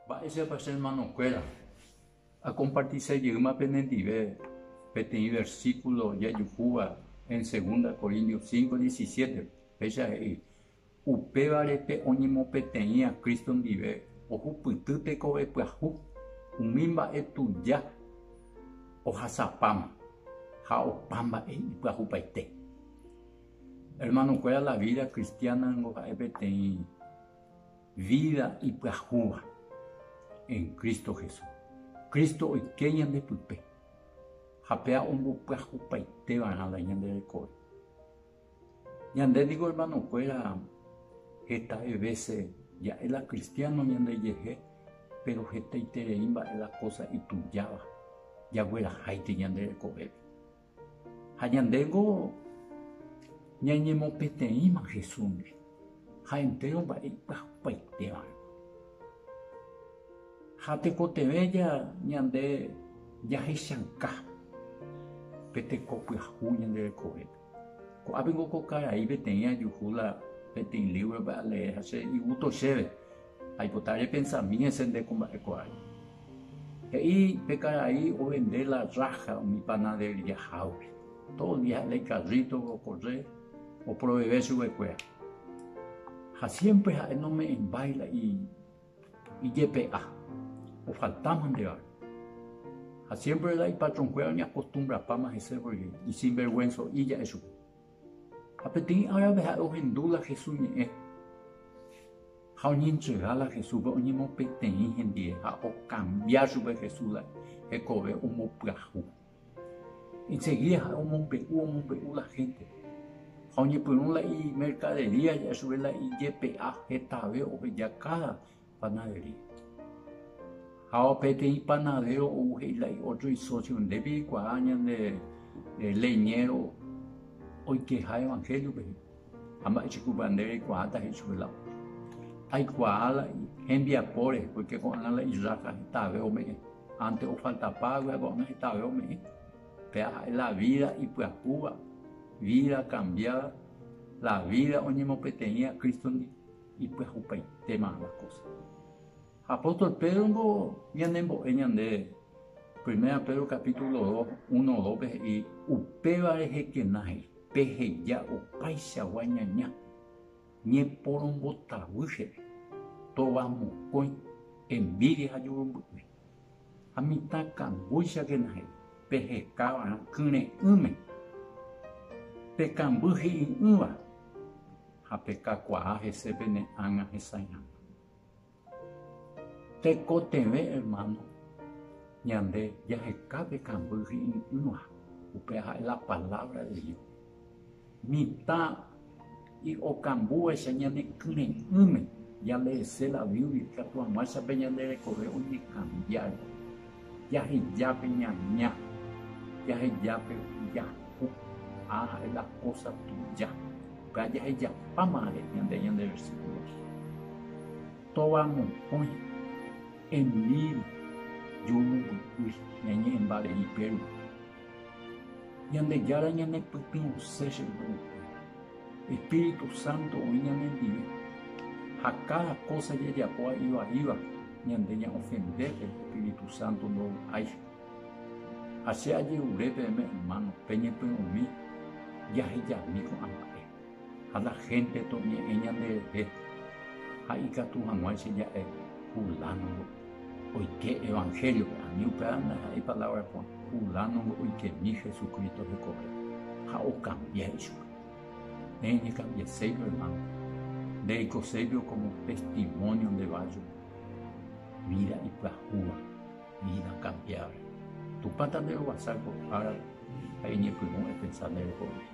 Mba'éichapa che ermanokuéra akompartisa jeýma penendive peteĩ versíkulo jajukúva en Segunda Corintios cinco, diecisiete? Péicha he'i, Upévare pe oñemopeteĩva Cristo ndive ohupyty tekove pyahu umi mba'e tuja ohasapáma ha opa mba'e ipyahupaite. Ermanokuéra, la vida cristiana ningo ha'e peteĩ Vída ipyahúva en Cristo Jesús. Cristo oike ñande pype ha péa ombopyahupaite va'erã la ñande rekove. Ñande ningo hermano kuéra hetave vese ja'e la cristiano ñande jehe, pero hetaiterei mba'e la cosa itujáva jagueraháite ñande rekovépe. Ha ñandéngo ñañemopeteĩma Jesúsndi ha entéro mba'e ipyahupaitévare. Ha tekotevẽ ñande jahechauka pe teko pyahu ñande rekovépe. Ko'ápeko ko karai peteĩ ajuhu la peteĩ lívrope alee ha che igusto chéve. Aipota repensami hese nde ko mba'ekuaái. He'i pe karai ovende la rája umi panaderiahágui. Tódo dia ha'e la ikarríto okorre oproveve chugekuéra. Ha siémpre ha'e nome'ẽmbái la ijepe'a ofalta mantevare. Ha siémpre la ipatronkuéra oñakostumbrapáma hese pórke isinverguenso'i ja'e chupe. Ha peteĩ árape ha'e ohendu la Jesús ñe'ẽ, ha oñentrega la Jesúspe oñemopeteĩ hendie, ha okambia chupe Jesús la hekove ombopyahu. Ensegída ha'e omombe'u omombe'u la hénte, ha oñepyrũ la imerkadería ja'e chupe la ijepe'a hetave oheja káda panaderi. Hao peteĩ panadero ou he'i la iotro isocio, nde pikuaa ñande leñero oikeha evangeliope he'i. Ha mba'echukupa nde reikuaáta he'i chupe la otro. Aikuaa la hembiapóre, porque ko'ág̃a la irráka hetave ome'ẽ. Antes ofaltapa hague ko'ág̃a hetave ome'ẽ. Péa ha'e la vida ipyahúva, vida cambiada, la vida oñemopeteĩva Cristo-ndi. Ipyahupaitéma la kósa. Ha apóstol Pédrongo ñanembo'e ñande, Primera Pedro capítulo dos, uno, dópe he'i, Upéva rehekena he'i, Peheja opaichagua ñaña, ñeporombotavy chéve, tovamokõi, envídia ha jurumby'ỹi. Ha mitã kambúichagena he'i, Peheka va'erã kyre'ỹme, pe kamby hi'i'ỹva ha pe kakuaa hese pene ág̃a hesãiháva. Tekotevẽ ermáno ñande jaheka pe kamby hi'i'ỹva, upéva ha'e la palávra de Dios. Mitã y okambúvaicha ñane kyre'ỹme, jaleese la Biblia ikatu hag̃uáichape ñande rekove oñekambiávo, jaheja pe ñaña, jaheja pe jaku ha la kósa tuja. Upéva jahejapámare ñande ñande versíkulo rehe, Tóva mokõi, envídia, ju momby'y, ñañe'ẽmbarei pe rupi. Ñandejára ñanepytyvõse che grupo. Espíritu Santo oĩ ñanendive. Ha káda kósa jajapo ha ivaíva ñande ña'ofendépe Espíritu Santo ndovy'áicha. Ha che ajerure peẽme ermáno peñepyrũmi jahejami ko'ã mba'e. Ha la hénte toñe'ẽ ñanderehe ha ikatu hag̃ua che ja'e Fulánongo oike Evanhéliope, ani upéva ndaha'éi palávra ko'ã, Fulánongo oikemi Jesucristo hekove, ha okambia ichupe. Néi nekambieséivo, ermáno. Ndereikoséivo kómo testimónio nde vájo vída ipyahúva, vída kambiáva. Tupã tanderovasa ko árape ha eñepyrũ epensa nde rekovépe.